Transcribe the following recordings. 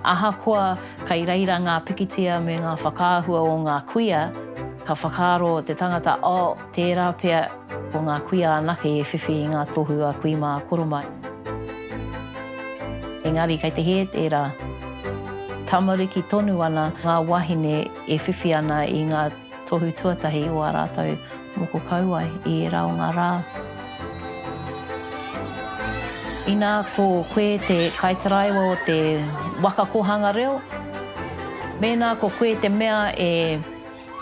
Ahakoa kei reira ngā pikitia me ngā whakaahua o ngā kuia, ka whakaaro te tangata, oh, tērā pea ko ngā kuia anake e whiwhi i ngā tohu a kui mā a koro mā. Engari kei te hē tērā. Tamariki tonu ana ngā wāhine e whiwhi ana i ngā. Tohu tuatahi o ā rātou moko kauae i ērā o ngā rā. Inā ko koe te kaitaraiwa o te waka kōhanga reo, mēnā ko koe te mea e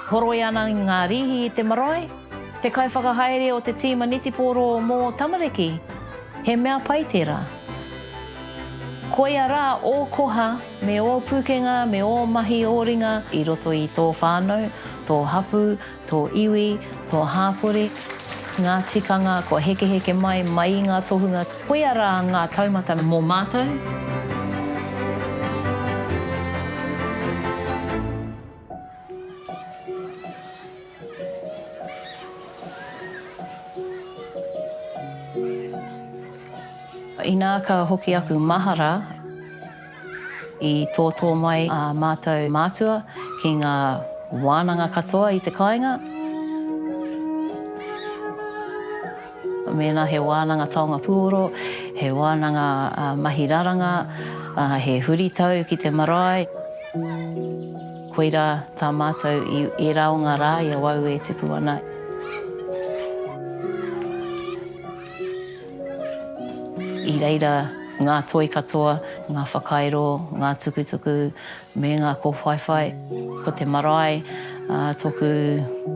horoi ana ngā rīhi i te marae, te kaiwhakahaere o te tīma netipōro mō tamariki, he mea pai tērā. Koia rā ō koha! Me ō pūkenga, me ō mahi ō ringa i roto i tō whānau, tō hapū, tō iwi, tō hāpori, ngā tikanga kua hekeheke mai, mai i ngā tohunga. Koia rā ngā taumata mō mātou. Inā ka hoki aku mahara. I tōtō mai ā mātou mātua ki ngā wānanga katoa i te kāinga. Mēnā he wānanga taonga pūoro, he wānanga mahi raranga, he huritau ki te marae, koirā tā mātou i ērā o ngā rā i awau e tipu ana. I reira ngā toi katoa, ngā whakairo, ngā tukutuku me ngā kōwhaiwhai. Ko te marae tōku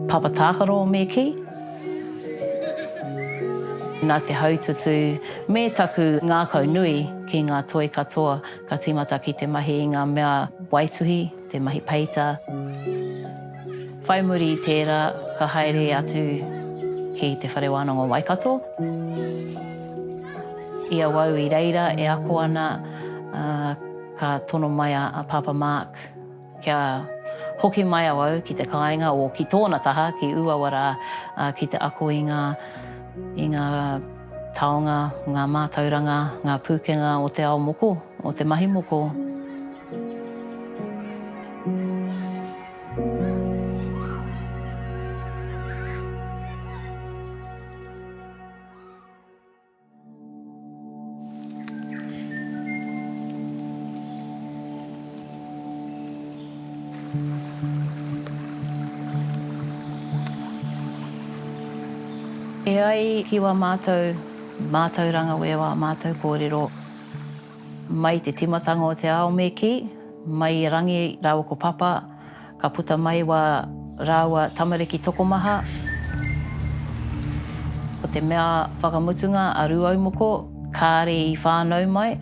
papa tākaro o Mīki. Nā te haututu me taku ngākau nui ki ngā toi katoa ka tīmata ki te mahi i ngā mea waituhi. Te mahi peita. Whai muri i tērā, ka haere atu ki Te Whare Wānanga o Waikato. I awau i reira e ako ana, ka tono mai a Pāpā Mark kia hoki mai awau ki te kāinga, o ki tōna taha, ki Ūawa rā, ki te ako i ngā, i ngā taonga, ngā mātauranga, ngā pūkenga o te ao moko, o te mahi moko. E ai ki wā mātou mātauranga wēwā mātou kōrero. Mai te timatanga o te ao me ki, mai i Rangi raua ko Papa, ka puta mai wa raua tamariki tokomaha, ko te mea whakamutunga a Ruaumoko kaare i whanau mai,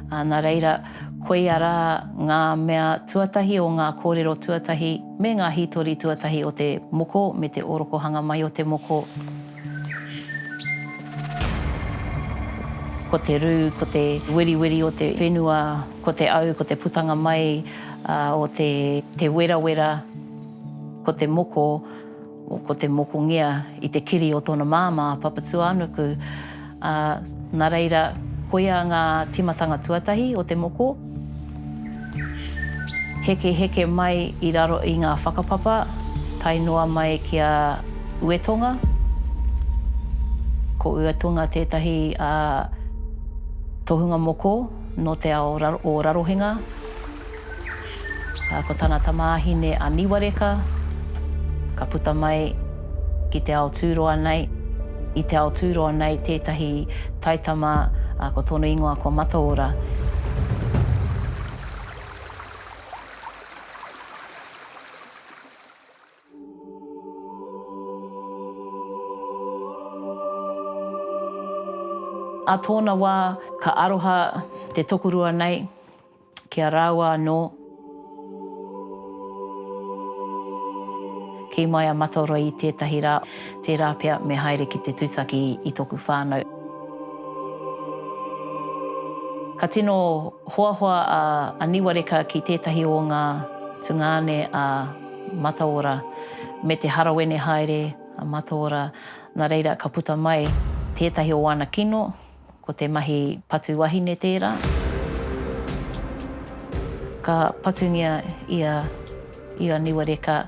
na reira koia ra nga mea tuatahi o nga korero tuatahi me nga hitori tuatahi o te moko me te orokohanga mai o te moko. Ko te rū, ko te weriweri o te whenua, ko te au, ko te putanga mai o te werawera, ko te moko, ko te mokongea i te kiri o tōna māmā, Papatūānuku. Ā, nā reira, koia ngā tīmatanga tuatahi o te moko, hekeheke mai i raro i ngā whakapapa, tae noa mai ki a Uetonga. Ko Uetonga tētahi tohunga moko nō te ao o Rarohenga. ā, ko tana tamāhine a Niwareka, ka puta mai ki te ao tūroa nei. I te ao tūroa nei tētahi taitama, ā, ko tōna ingoa ko Mataora. Ā tōna wā, ka aroha te tokorua nei ki a rāua anō. Kī mai a Mataora i tētahi rā, tērā pea me haere ki te tūtaki i tōku whānau. Ka tino hoahoa a Niwareka ki tētahi o ngā tungāne a. Mataora, me te harawene haere a Mataora, nā reira ka puta mai tētahi o āna kino, ko te mahi patu wahine tērā. Ka patungia ia i a Niwareka,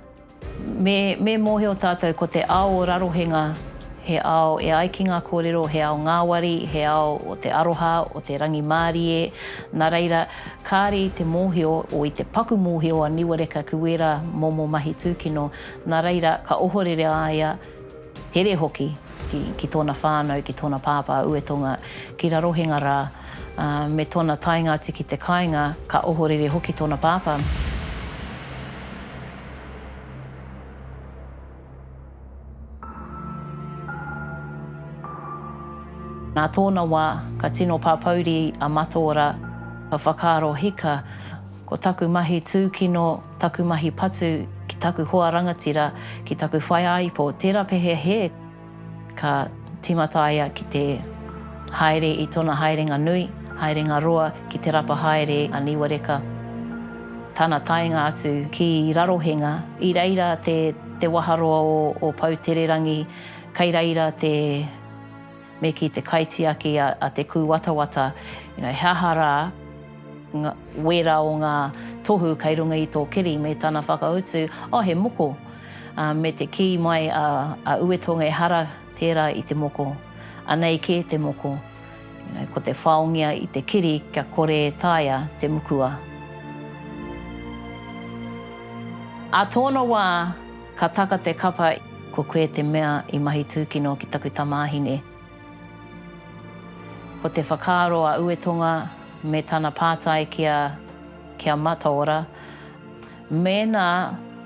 Me, me mōhio tātou ko te ao o Rarohenga he ao e ai ki ngā kōrero, he ao ngāwari, he ao o te aroha, o te rangimārie, nā reira Kāre i te mōhio o i te paku mōhio a Niwareka ki wērā momo mahi tūkino, nā reira ka ohorere a ia, here hoki, ki, ki tōna whānau, ki tōna pāpā, Uetonga, ki Rarohenga rā, ā, me tōna taenga atu ki te kāinga, ka ohorere hoki tōna pāpā. Nā tōna wā, ka tino pāpouri a Mataora, ka whakaaro hika, Ko taku mahi tūkino, taku mahi patu ki taku hoa rangatira, ki taku whaiāipo, tērā pehea he. Ka tīmata a ia ki te haere i tōna haerenga nui, haerenga roa ki Te Rapa Haere a Niwareka. Tana taenga atu ki Rarohenga, i reira te waharoa o Poutererangi, kei reira te me ki te kaitiaki a Te Kūwatawata, he aha rā wērā o ngā tohu kei runga i tō kiri me tana whakautu, oh he moko. Me te kī mai a Uetonga ehara tērā i te moko, anei kē te moko, ko te whaongia i te kiri kia kore e taea te mukua. Ā tōna wā ka taka te kapa ko koe te mea i mahi tūkino ki taku tamāhine. Ko te whakaaro a Uetonga me tana pātai ki a Mataora, Mēnā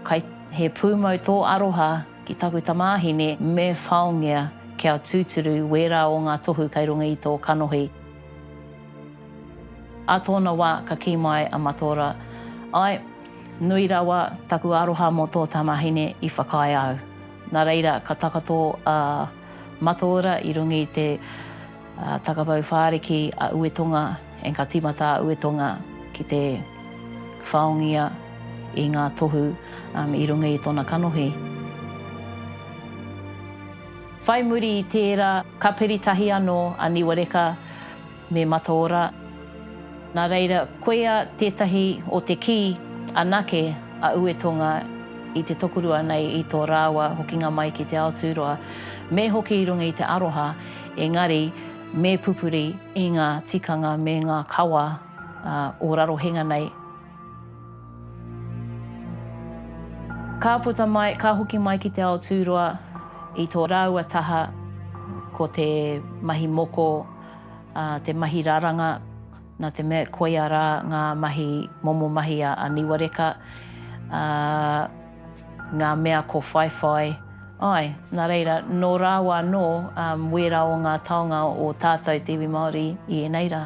kai he pūmau tō aroha ki taku tamāhine, me whaongea kia tūturu wērā o ngā tohu kai runga i tō kanohi. Ā tōna wā ka kī mai a Mataora, Āe, nui rawa taku aroha mō tō tamāhine i whakaae au. Nā reira ka takato a Mataora i runga i te. A Takapau Whāriki a Uetonga engka tīmata a Uetonga ki te whaongia i ngā tohu i runga i tōna kanohi. Whai muri i tērā, ka piri tahi anō a Niwareka me Mataora. Nā reira, koia tētahi o te kī anake a Uetonga i te tokorua nei i tō rāua hokinga mai ki te ao tūroa, me hoki i runga i te aroha Engari, me pupuri i ngā tikanga me ngā kawa o Rarohenga nei. Ka puta mai, ka hoki mai ki te ao tūroa i tō rāua taha, ko te mahi moko, te mahi raranga, nā te mea koia rā ngā mahi momo mahi a Niwareka. Ngā mea ko whaiwhai, āe, nā reira, nō rāua anō wērā o ngā taonga o tātou te iwi Māori i ēnei rā.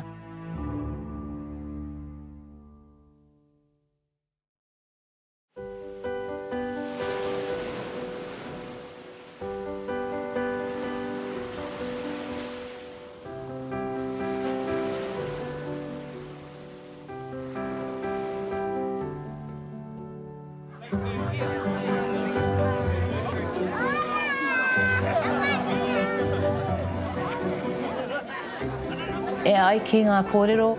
E ai ki ngā kōrero,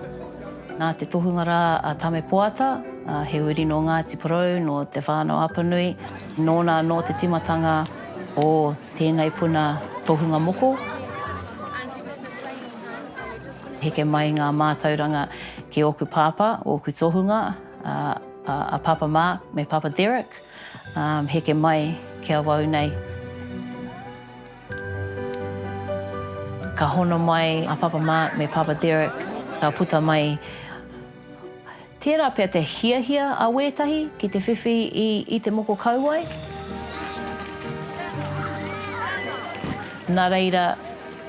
nā te tohunga rā a Tamepoata, he uri nō Ngāti Porou, nō Te Whānau-a-Apanui, nōna anō te timatanga o tēnei puna tohunga moko. Heke mai ngā mātauranga ki ōku pāpā, ōku tohunga, a Pāpā Mark me Pāpā Derek, heke mai ki awau nei. Ka hono mai a Pāpā Mark me Pāpā Derek, ka puta mai. Tērā pea te hiahia a wētahi ki te whiwhi i te moko kauae. Nā reira,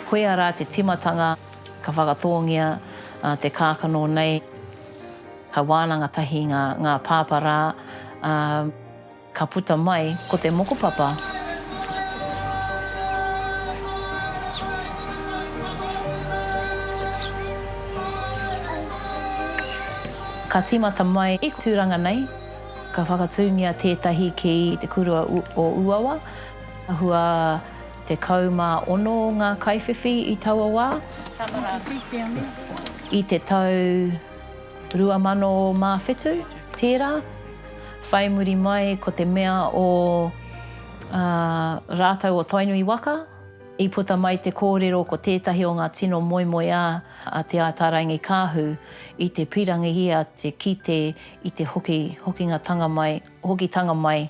koia rā te timatanga ka whakatōngia te kākano nei. Ka wānanga tahi ngā pāpā rā. Ka puta mai ko te mokopapa. Ka tīmata mai i Tūranga nei, ka whakatūngia tētahi ki te kurua o Uawa. Hua tekau mā ono ngā kaiwhiwhi i taua wā. I te tau rua mano mā whitu tērā. Whai muri mai ko te mea o a rātou o Tainui waka, i puta mai te kōrero ko tētahi o ngā tino moemoeā a Te Ātaarangi-Kaahu i te pirangi ia te kite i te hoki, hokingatanga mai, hokitanga mai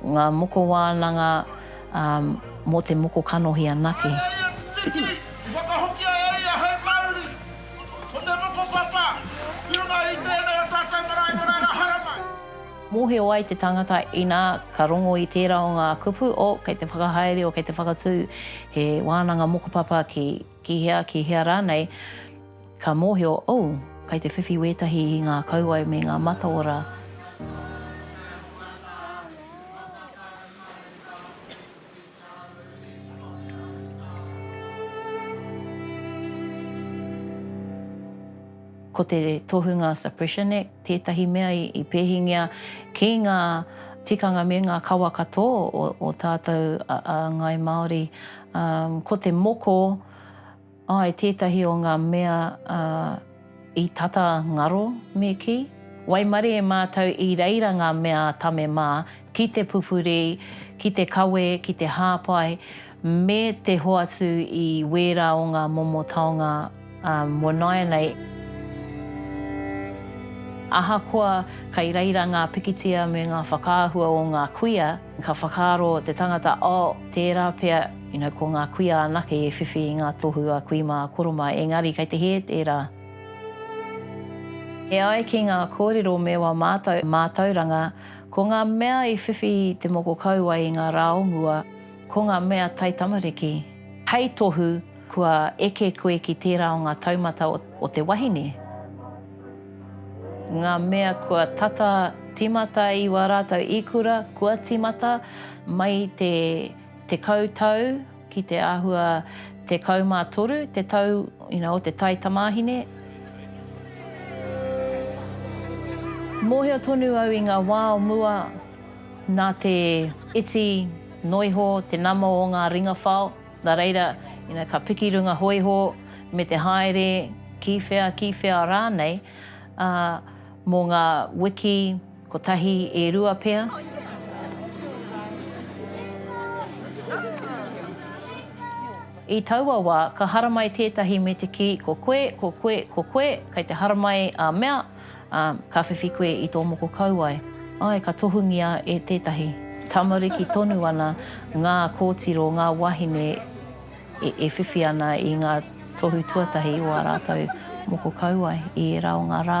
Ngā moko wānanga mō te moko kanohi anake. Whakawhiwhi, i whakahokia e ia hei mauri, ko te mokopapa, ki runga i tēnei o tātou marae marae rā haramai. Mōhio ai te tangata inā ka rongo i tērā o ngā kupu o kei te whakahaere, o kei te whakatū he wānanga mokopapa ki. Ki hea, ki hea rānei, ka mōhio, oh, kai te whiwhi wētahi i ngā kauae me ngā mataora. Ko te tohunga Suppression Act tētahi mea i pēhingia ki ngā tikanga me ngā kawa katoa o tātou a Ngāi Māori. Ko te moko, āe, tētahi o ngā mea i tata ngaro me kī. Waimarie mātou i reira ngā mea tame mā ki te pupuri, ki te kawe, ki te hāpai, me te hoatu i wērā o ngā momo taonga mō nāianei. Ahakoa kei reira ngā pikitia me ngā whakaahua o ngā kuia, ka whakaaro te tangata, oh, tērā pea, you know, ko ngā kuia anake e whiwhi i ngā tohu a kui mā, a koro mā, engari kei te hē tērā. E ai ki ngā kōrero me wā mātou mātauranga, Ko ngā mea i whiwhi te moko kauae i ngā rā o mua, ko ngā mea taitamariki. Hei tohu, kua eke koe ki tērā o ngā taumata o te wahine. Ngā mea kua tata tīmata i wā rātou ikura kua tīmata mai te tekau tau. Ki te āhua 13 te tau o te tai tamāhine. Mōhio tonu au i ngā wā o mua nā te iti noa iho te nama o ngā ringa whao, nā reira ka piki runga hōiho me te haere ki whea, ki whea rānei mō ngā wiki. Kotahi e rua pea. I taua wā, ka haramai tētahi me te kī, Ko koe, ko koe, ko koe, kei te haramai ā mea, ā, ka whiwhi koe i tō moko kauae. Āe, ka tohungia e tētahi. Tamariki tonu ana ngā kōtiro, ngā wāhine e whiwhi ana i ngā tohu tuatahi o ā rātou moko kauae i ērā o ngā rā.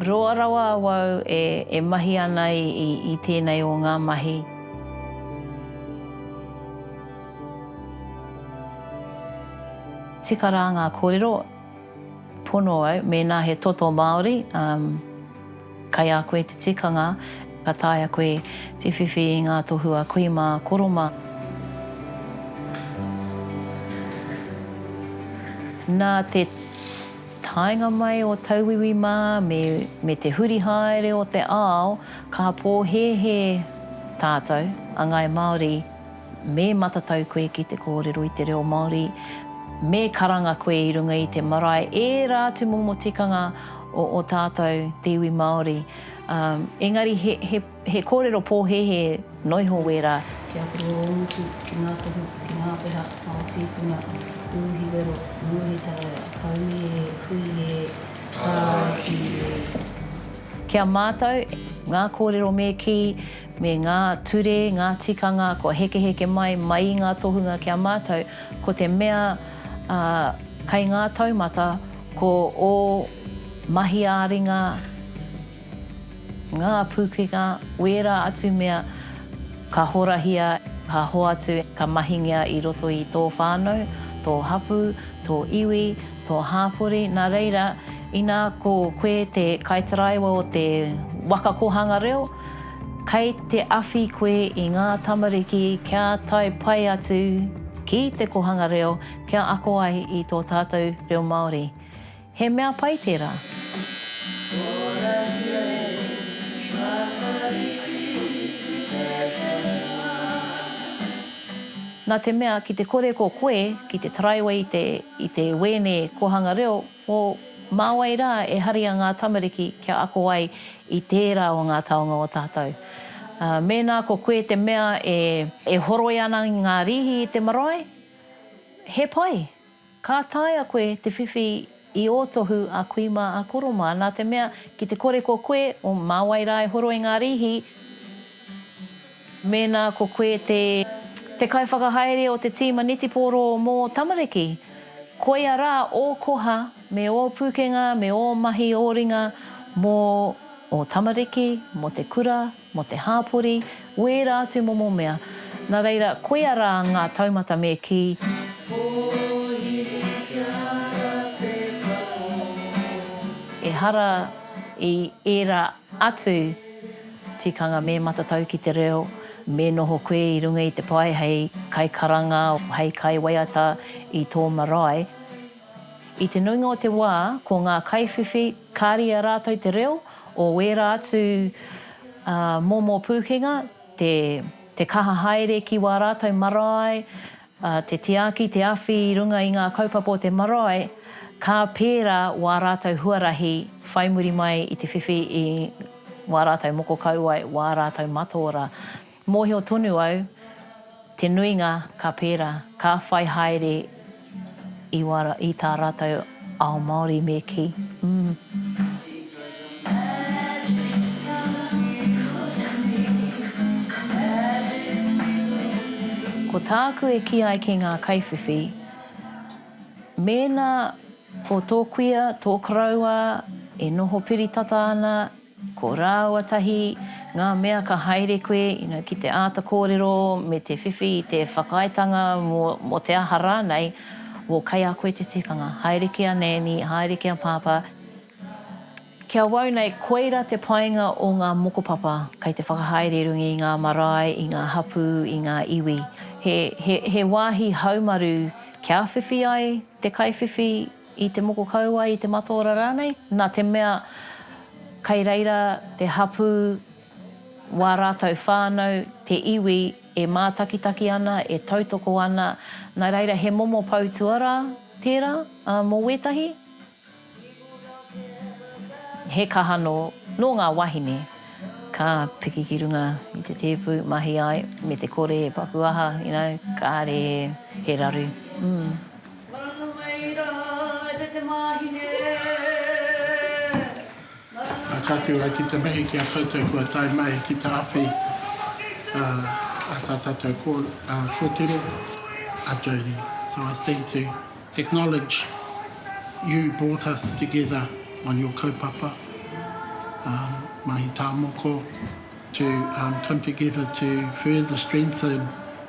Roa rawa awau e e mahi ana i i tenei o nga mahi. Tika ra nga korero, pono au, mena he toto Maori, kai a koe te tikanga, ka taea koe te whiwhi i nga tohu a kui ma koro ma. Na te. Taenga mai o tauiwi mā me me te huri haere o te ao ka pōhēhē tātou a Ngāi Māori me matatau koe ki te kōrero i te reo Māori me karanga koe i runga i te marae ērā atu momo tikanga o o tātou te iwi Māori ā engari he he He kōrero pōhēhē noiho wērā. Kia kore ō utu ki ngā tohu, ki ngā peha, ao tīpuna, uhi wero, nguhi taraira, haui e, hui e, tāki e. Ki a mātou, ngā kōrero me kī, me ngā ture, ngā tikanga kua hekeheke mai, mai i ngā tohunga ki a mātou, ko te mea kei ngā taumata, ko ō mahi ā-ringa, Ngā pūkenga, wērā atu mea ka horahia, ka hoatu, ka mahingia i roto i tō whānau, tō hapū, tō iwi, tō hāpori, nā reira, inā ko koe te kaitaraiwa o te waka kōhanga reo, kei te awhi koe i ngā tamariki kia tae pai atu ki te kōhanga reo, kia ako ai i tō tātou reo Māori. He mea pai tērā. Na te mea ki te kore ko koe ki te taraiwe i te i te wēne kohanga reo o Mā wai rā e haria ngā tamariki kia ako ai i tērā o ngā taonga o tātou. Mēnā ko koe te mea e. E horoi ana ngā rīhi i te marae, he pai. Ka taea koe te whiwhi i ō tohu a kui mā a koro mā, nā te mea ki te kore ko koe o mā wai rā e horo i ngā rīhi, mēnā ko koe te te kaiwhakahaere o te tīma netipōro mō tamariki. Koia rā ō koha me ō pūkenga me ō mahi ō ringa mō ō tamariki, mō te kura, mō te hāpori, wērā atu momo mea, nā reira, koia rā ngā taumata me kī. Ehara i ērā atu tikanga me matatau ki te reo, me noho koe i runga i te pae hei kaikaranga, hei kaiwaiata i tō marae. I te nuinga o te wā, ko ngā kaiwhiwhi, kāre i a rātou te reo o wērā atu momo pūkenga, te kaha haere ki wā rātou marae, te tiaki, te awhi i runga i ngā kaupapa o te marae, ka pērā wā rātou huarahi whai muri mai i te whiwhi i wā rātou moko kauae, wā rātou mataora. Mōhio tonu au, te nuinga ka pērā, ka whai haere i wā, i tā rātou ao Māori me kī, mm. Ko tāku e kī ai ki ngā kaiwhiwhi, mēnā ko tō kuia, tō koroua e noho piri tata ana, Ko rāua tahi ngā mea ka haere koe ina ki te āta kōrero me te whiwhi i te whakaaetanga mō te aha rānei, wō kei a koe te tikanga, haere ki a Nani, haere ki a Pāpā. Ki awau nei, koira te painga o ngā mokopapa kei te whakahaere i runga i ngā marae, i ngā hapū, i ngā iwi. He wāhi haumaru kia whiwhi ai te kaiwhiwhi. i te moko kauae, i te mataora rānei, nā te mea kei reira te hapū, wā rātou whānau, te iwi e mātakitaki ana, e tautoko ana, nā reira he momo poutua rā tērā mō wētahi, he kaha nō, nō ngā wāhine ka piki ki runga i te tēpu, mahi ai, me te kore e paku aha, you know, kāre he raru. Maranga mai ra te te mahine, maranga mai ra. Ka tū ai ki te mihi ki a koutou kua tae mai ki te awhi a tā tātou kōtiro, a Jodie. So I stand to acknowledge you brought us together on your kaupapa, Mahi Tāmoko, to come together to further strengthen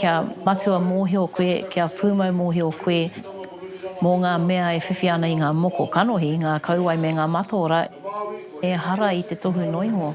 Kia matua mōhio koe, kia pūmau mōhio koe mō ngā mea e whiwhi ana i ngā moko kanohi, ngā kauae me ngā mataora, ehara i te tohu noingo.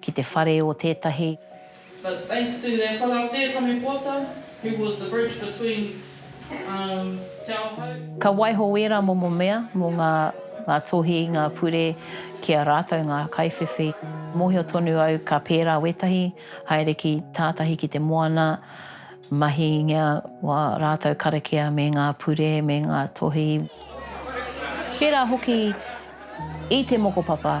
ki te whare o tētahi. But thanks to their whara tē Tame Pōta, who was the bridge between um Te Ao Hou. Ka waiho ērā momo mea mō ngā ngā tohi, ngā pure ki a rātou ngā kaiwhiwhi. Mōhio tonu au ka pērā wētahi, haere ki tātahi ki te moana, mahingia wā rātou karakia me ngā pure me ngā tohi. Pērā hoki. I te mokopapa,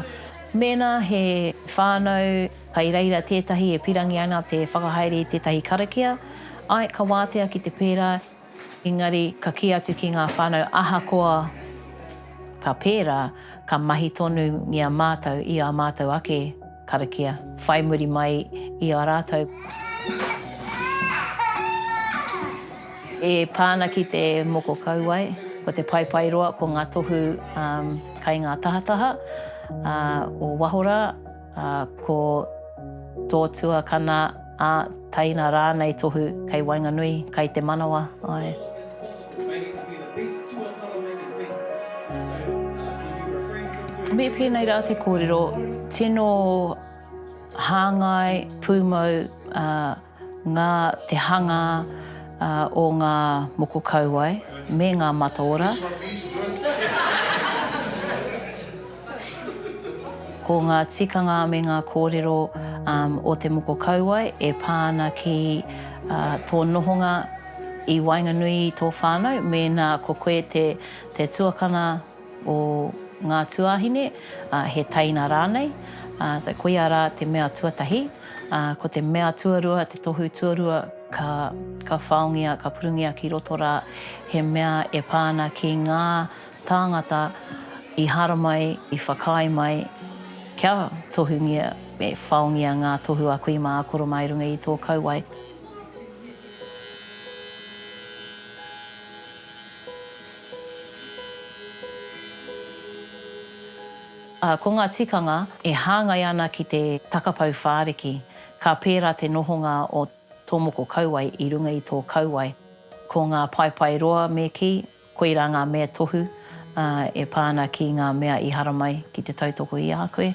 mēnā he whānau kai reira tētahi e pirangi ana te whakahaere i tētahi karakia, āe, ka wātea ki te pērā, engari ka kī atu ki ngā whānau ahakoa ka pērā, ka mahi tonungia mātou i ā mātou ake. Karakia, whai muri mai i a rātou. E pā ana ki te moko kauae, ko te paepae roa ko ngā tohu kai ngā tahataha o waho rā, ko tō tuakana, ā, taina rānei tohu kai waenganui, kai te manawa, āe. Me pēnei rā te kōrero, tino hāngai, pūmau ngā te hanga o ngā moko kauae me ngā mataora. Ko ngā tikanga me ngā kōrero o te moko kauae e pā ana ki tō nohonga i waenganui i tō whānau, mēnā ko koe te tuakana o ngā tuāhine, he teina rānei, so koia rā te mea tuatahi. Ko te mea tuarua, te tohu tuarua ka whaongia, ka purungia ki roto rā, he mea e pā ana ki ngā Tāngata i hara mai, i whakaae mai, kia tohungia, me whaongia ngā tohu a kui mā koro mā i runga i tō kauae. Ā, ko ngā tikanga e hāngai ana ki te takapau whāriki, ka pērā te nohonga o tō moko kauae i runga i tō kauae, ko ngā paepae roa me kī, Koirā ngā mea tohu e pā ana ki ngā mea i haramai ki te tautoko i a koe.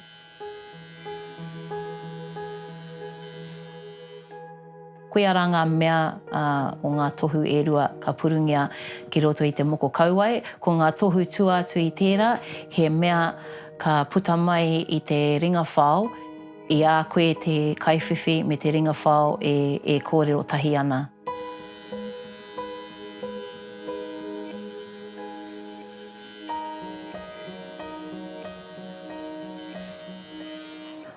Koia rā ngā mea o ngā tohu e rua ka purungia ki roto i te moko kauae. Ko ngā tohu tua atu i tērā, he mea ka puta mai i te ringa whao, i a koe te kaiwhiwhi me te ringa whao e kōrero tahi ana.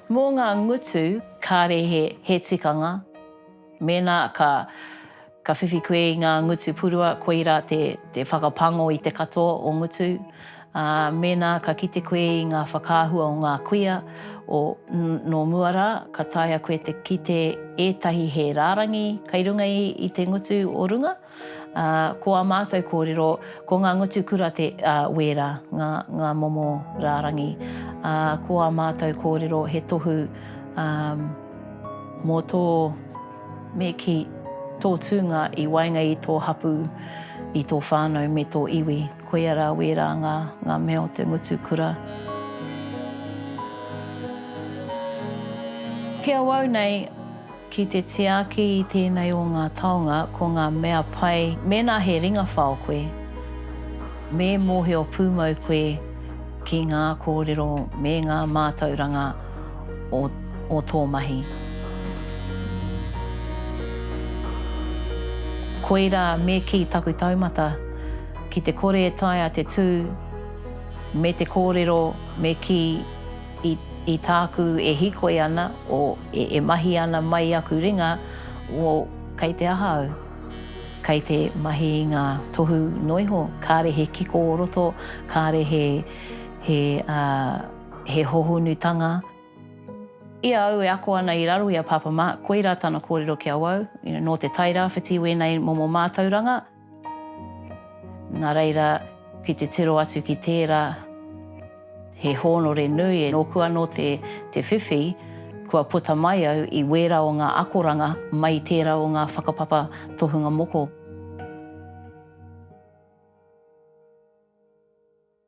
Mō ngā ngutu, kāre he tikanga, mēnā ka whiwhi koe i ngā ngutu purua, koirā te whakapango i te katoa o ngutu. Ā, mēnā ka kite koe i ngā whakaahua o ngā kuia o nō mua rā, ka taea koe te kite ētahi he rārangi kei runga i te ngutu o runga. Ā, ko ā mātou kōrero, ko ngā ngutu kura te, ā, wērā ngā, ngā momo rārangi. Ā, ko ā mātou kōrero he tohu, ā, mō tō, me kī, tō tūnga i waenga i tō hapū, i tō whānau me tō iwi. Koia rā wērā ngā, ngā mea o te ngutu kura. Ki awau nei, ki te tiaki i tēnei o ngā taonga, ko ngā mea pai, mēnā he ringawhao koe, me mōhio pūmau koe ki ngā kōrero me ngā mātauranga o, o tō mahi. Koirā me kī taku taumata. Ki te kore e taea te tū me te kōrero me kī i i tāku e hīkoi ana o e mahi ana mai aku ringa o kei te aha au? Kei te mahi i ngā tohu noa iho, kāre he kiko o roto, kāre he he he hohonutanga. I a au e ako ana i raro i a Pāpā Mark, koirā tana kōrero ki awau, nō te Tairāwhiti wēnei momo mātauranga. Nā reira, ki te tiro atu ki tērā, he hōnore nui e. Nōku anō te whiwhi, kua puta mai au i wērā o ngā akoranga mai i tērā o ngā whakapapa tohunga moko.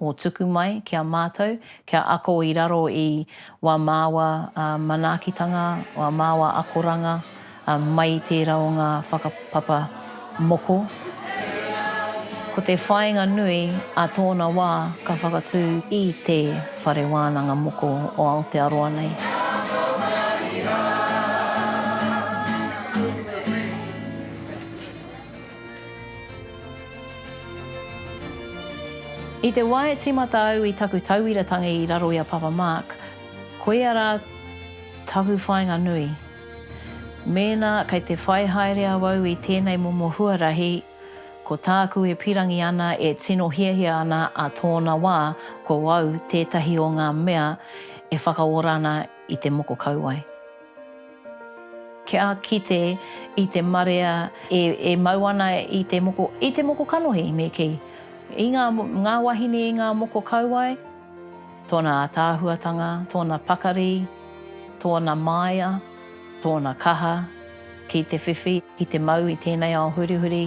Mō tuku mai ki a mātou kia ako i raro i wā māua manaakitanga, wā māua akoranga mai i tērā o ngā whakapapa moko. Ko te whāinga nui a tōna wā ka whakatū i Te Whare Wānanga Moko o Aotearoa nei. I te wā e tīmata au i taku tauira tangi i raro i a Papa Mark, koia rā taku whāinga nui. Mēnā kei te whai haere awau i tēnei momo huarahi, ko tāku e pīrangi ana, e tino hiahia ana ā tōna wā ko au tētahi o ngā mea e whakaora ana i te moko kauae. Kia kite i te marea e mau ana i te moko, i te moko kanohi, me kī, i ngā, ngā wahine i ngā moko kauae, tōna ātaahuatanga, tōna pakari, tōna māia, tōna kaha ki te whiwhi, ki te mau i tēnei ao hurihuri.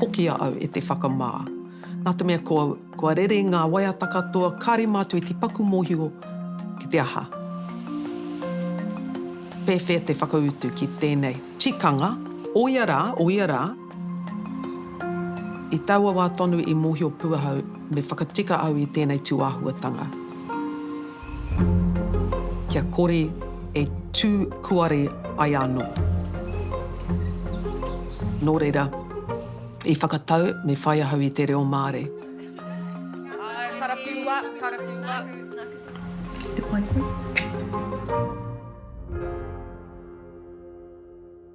Hoki a au e te whakamā. Nā te mea kua, kua rere ngā waiata katoa, kāre mātou i te paku mōhio ki te aha. Pēwhea te whakautu ki tēnei tikanga, o ia rā, o ia rā, I taua wā tonu i mōhio pū ahau me whakatika au i tēnei tūāhuatanga. Kia kore e tū kuare ai anō. Nō reira, i whakatau me whai ahau i te reo Māori. Ae, karawhiua, karawhiua. Ki te pai koe.